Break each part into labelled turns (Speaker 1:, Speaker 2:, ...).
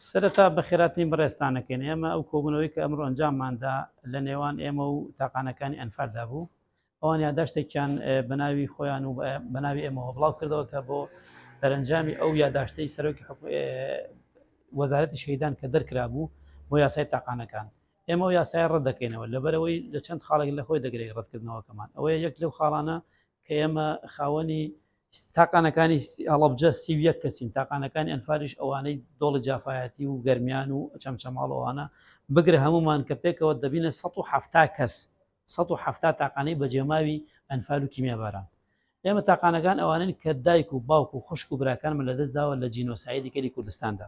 Speaker 1: سەرەتا بەخێراتنی بەڕێزتانەکەین ئێمە ئەو کۆبوونەوەی کە ئەمڕۆ ئەنجامماندا لە نێوان ئێمە و تاقانەکانی ئەنفالدا بوو ئەوان یاداشتێکیان بەناوی خۆیان و بەناوی ئێمەوە بڵاو کردەوە کە بۆ دەرەنجامی ئەو یاداشتەی سەرۆکی وەزارەتی شەیدان کە دەرکرا بوو بۆ یاسای تاقانەکان ئێمە و یاسای ڕەت دەکەینەوە لەبەرەوەی لە چەند خاڵێک لە خۆی دەگرێت ڕەتکردنەوەکەمان ئەوەیە یەک لەو خاڵانە کە ئێمە خاوەنی تاقانەکانی هەڵەبجە سی و یەک کەسین تاقانەکانی ئەنفاریش ئەوانەی دۆڵی جافایەتی و گەرمیان و چەمچەماڵەوانە بگرە هەمومان کە پێکەوە دەبینە 1970 کەس 1970 تاقانەی بەجێماوی ئەنفال و کیمیا باران ئێمە تاقانەکان ئەوانن کە دایک و باوک و خوشک و براکانمە لە دەستداوە لە جینۆسایدی کەلی کوردستاندا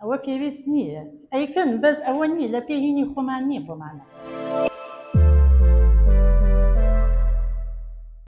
Speaker 2: ئەوە پێویست نییە ئەیکەن بەس ئەوە نییە لە پێ هینی خۆمان نییە بۆمانە.